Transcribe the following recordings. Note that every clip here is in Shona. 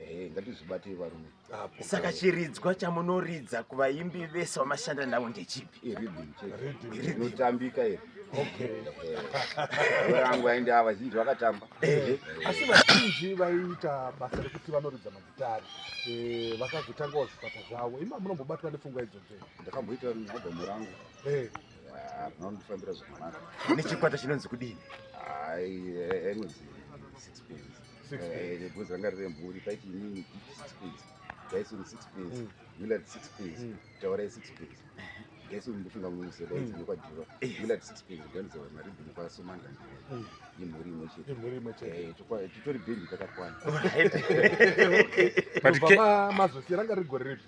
Hey, eh, ngatizvibatei varume saka chiridzwa chamunoridza kuvaimbi vese vamashanda navo ndechipi inotambika iri rangu ainde ava zhinji vakatamba eh. asi vazhinji vaiita basa rekuti vanoridza magitari eh, vakazotangawo zvikwata zvavo ima munombobatwa nepfungwa idzodzo ndakamboita albhamu rangu rinondifambira zvakanaka nechikwata chinonzi kudini ai anonzi six pins eh, bhozi ranga riri mhuri paiti inini six pins gaisoni six pins mm. willard six pins mm. taurai six pins gaisoni ndofunga mumuseda idzi mm. nekwadhiva willard six pins ganizava maridhini kwasomanda imhuri imwe chete eh, titori bhendi takakwana mazosiyaranga rigore repi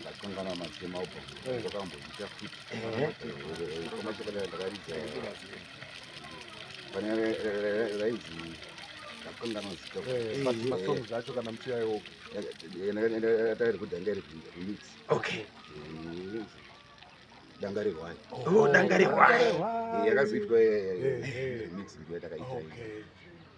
ndakangana matema upo zvakamboita futi koma chokwadi ndakaridza pane rainzi ndakangana zita masong dzacho kana muchiyayo tairi kudanga iri remix okay danga rehwai danga rehwai yakazoitwa remix ndiyo yatakaita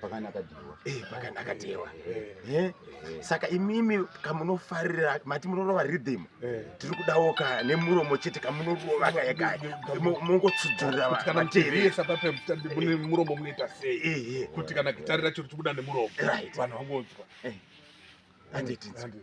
pakanaka dhewa eh pakanaka dhewa eh, eh. eh. saka imimi kamunofarira mati munorova rhythm eh. tiri kudawo ka nemuromo chete kamunorova kaya kaya mongotsudzurira kuti kana muteeresa pape mutambi mune eh. muromo munoita sei eh, kuti kana gitari racho richibuda nemuromo vanhu vangonzwa eh. handiti handiti